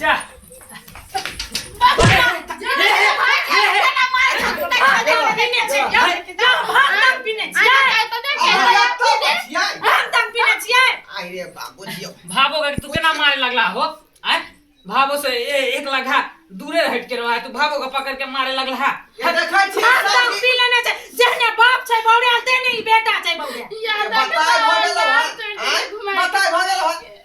જા भाबो का तू केना मारे लगला हो आय भाबो से ए, एक लगा दूरे हट के रहा तू भाबो का पकड़ के मारे लगला हा ये देखै छी हम तक पी लेने छै जहने बाप छै बौड़े आते नहीं बेटा छै बौड़े बताय भऽ गेल हन बताय भऽ गेल हन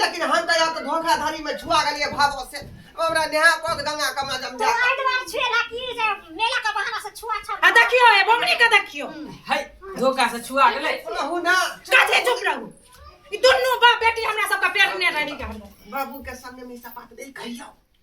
लेकिन हम तऽ यहाँ तऽ धोखाधड़ी में छुआ गेलिए भाव से हमरा नेहा पग दंगा कमा जम जा आ देखियो ए बमनी के देखियो है धोखा से छुआ गेले रहू ना कथे चुप रहू ई दुनू बाप बेटी हमरा सब के पेट ने रही के बाबू के संग में सपाट दे कहियो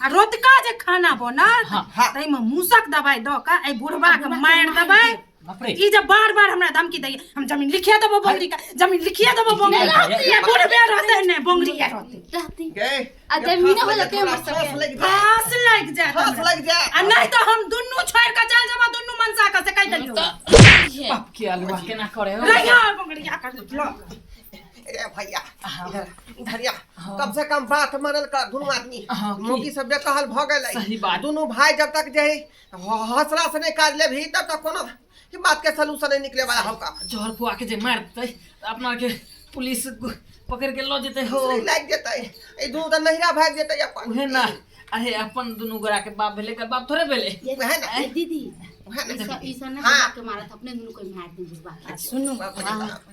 आ रोतका जे खाना बनत हाँ, हाँ। ताहिमे मूसक दबाइ दऽ कऽ एहि बुढ़बाके मारि देबै बाप रे ई जे बार बार हमरा धमकी दैया हम जमीन लिखिए देबो बोंगरी का जमीन लिखिए देबो बोंगरी का रहती ये बुढ़बे रहते ने बोंगरी ये रहते रहती के आ जमीन हो जाते हैं मस्त फांस के। लग जा फांस लागि जाए फांस लग जा आ नहीं तो हम दुनू छोड़ के चल जाबा दुनू मनसा का से कह देलियो बाप के अलवा केना करे हो रहिया बोंगरी का कर लो अरे भैया हाँ। इधर इधर या हाँ। कम से कम बात मानल कर दुनू आदमी हाँ, की? मोगी सब जे कहल भ गेलै सही बात। दुनू भाई जब तक जे है ह- हौसला से नहीं काज लेबही तब तक कोनो ई बात के सलूशन नहीं निकले वाला होगा जहर खुआ के जे मार देतै तऽ अपना के पुलिस गु- पकड़ के लऽ जेतै हो दूसरी लाग जेतै ई दुनू तऽ नहिरा भाग जेतै अपन उहे ना अरे अपन दुनू गोरा के बाप भेलै एकर बाप थोड़े भेलै ये उहे ना ये दीदी उहे ना ई सब ई सब ना हाँ। दिमाग के मारत अपने दुनू को मार दी बुढ़वा आ सुनू बाप रे हाँ। बाप।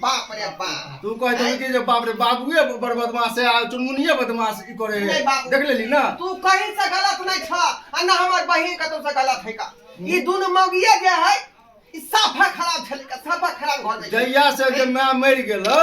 बाप रे बाप तू कह दे कि जे बाप रे बाबूए बड़ बदमाश है आ चुनमुनिए बदमाश ई करे है देख लेली ना तू कहीं से गलत नहीं छ आ ना हमर बहिन कतौ से गलत है का ई दुनु मौगिए जे है ई साफा खराब छले का साफा खराब घर में जहिया से जे मैं मर गेलो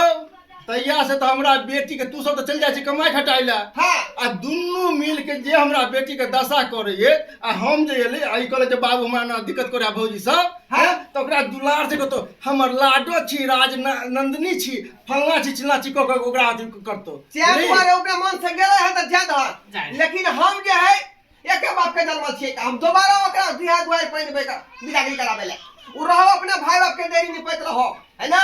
तहिया से तो हमरा बेटी के तू सब तो चल जाय छी कमाई खटाई ला हां आ दुनू मिल के जे हमरा बेटी के दशा करे आ हम जे एले आई कहले जे बाबू हमरा ना दिक्कत करे भौजी सब है तऽ ओकरा दुलार से कहतो हमर लाडो छी राज नंदिनी छी फलना छी चिल्ला छी कह ओकरा अथी करतो से दुआरे ओकरा मन से गेले है तऽ जाय दहक लेकिन हम जे है एके बाप के जन्मल छी हम दोबारा ओकरा बिहा दुआर पाइन बेटा बिदागरी कराबे ले उ रहो अपने भाई बाप के देरी निपैत रहो है ना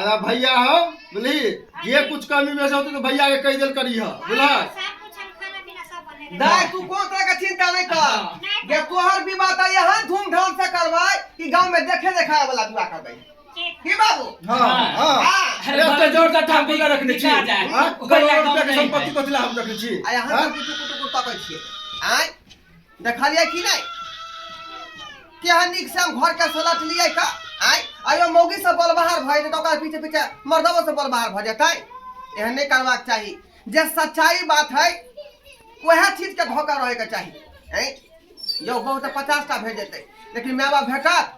अरे भैया हो बुझली ये कुछ कमी बेसी होती तो भैया के कह दिल करी है बुझल दाई तू कोन तरह के चिंता नहीं कर जे तोहर विवाह त यहाँ धूमधाम से करबै कि गांव में देखे देखाए वाला विवाह करबै की बाबू हाँ हाँ हाँ अरे तो जोर से ठाकुर के रखने छी बिका जाए। हाँ, करोड़ रुपया के संपत्ति कथिला हम रखने छी आ यहाँ हाँ? तक कुछ कुछ कुछ तकै छियै आय देखलियै कि नहि केहन नीक से घर के सलटलियै का आय आयो मौगी से बलबहार भए जेतै ओकर पीछे पीछे मर्दबो से बलबहार भए जेतै एहन नहि करबाक चाही जे सच्चाई बात है वएह चीज के धोखा रहे के चाही हैं यौ बहुत पचास टा भेज देतै लेकिन माय बाप भेटत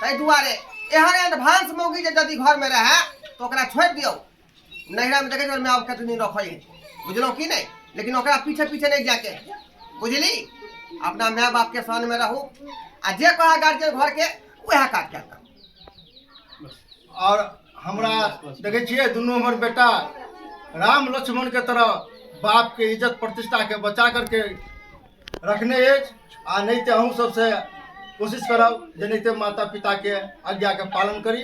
ताहि दुआरे एहन एहन भांस मौगी जे यदि घर में रहे तो ओकरा छोड़ि दियौ नैहरामे देखै छौ माय कते दिन रखै बुझलहुँ कि नहि लेकिन ओकरा पीछे पीछे नहि जाके बुझली अपना माय बापके सानमे रहू आ जे कहा गार्जियन घरके उएह काज कए कऽ आओर हमरा देखै छियै दुनू हमर बेटा राम लक्ष्मणके तरह बापके इज्जत प्रतिष्ठाके बचा करके रखने अछि आ नहि तऽ अहूँ सबसँ कोशिश करब जे नहि तऽ माता पिताके आज्ञाके पालन करी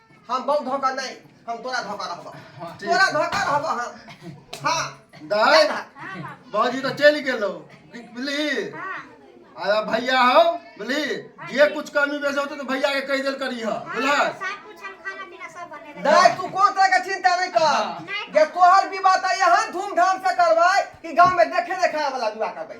हम बहुत धोखा नहीं हम तोरा धोखा रहबा ठीक तोरा छै। धोखा रहबा हम हाँ दाय बाबूजी तो चल गेलो बुझली आ भैया हो बुझली जे कुछ कमी बेसी होते तो भैया के कह देल करी हो बुझलस सब कुछ हम खाना पीना सब बने रहे दाय तू कौन तरह के चिंता नहीं कर जे तोहर विवाह तो यहाँ धूमधाम से करवाए कि गांव में देखे देखाए वाला विवाह करवाए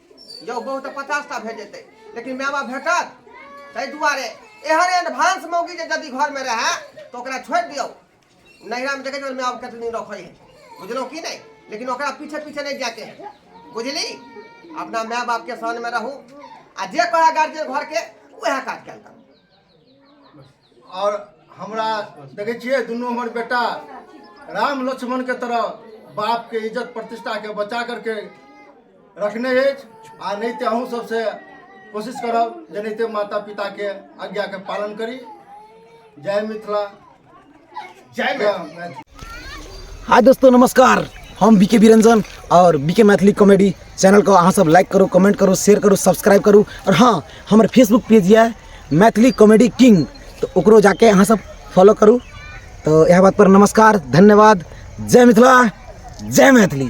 यौ बहु तऽ पचास टा भेट जेतै लेकिन माय बाप भेटत ताहि दुआरे एहन एडवांस मौगी जे यदि घरमे रहए तऽ ओकरा छोड़ि दियौ नैहरामे देखै छियै माय बाप कतेक दिन रखै है बुझलहुँ कि नहि लेकिन ओकरा पीछे पीछे नहि जाके है बुझली अपना माय बापके शरणमे रहू आ जे कहै गार्जियन घरके उएह काज कयल करू आओर हमरा देखै छियै दुनू हमर बेटा राम लक्ष्मणके तरह बापके इज्जत प्रतिष्ठाके बचा करके रखने अछि आ नहि तऽ अहूँ सबसे कोशिश करब जे नहि तऽ माता पिताके आज्ञाके पालन करी जय मिथिला हाय दोस्तों नमस्कार हम बीके बिरंजन और बीके मैथिली कॉमेडी चैनल को अहाँ सब लाइक करू कमेंट करू शेयर करू सब्सक्राइब करू और हाँ हमारे फेसबुक पेज है मैथिली कॉमेडी किंग तो ओकरो जाके अहाँ सब फॉलो करू तो यह बात पर नमस्कार धन्यवाद जय मिथिला जय मैथिली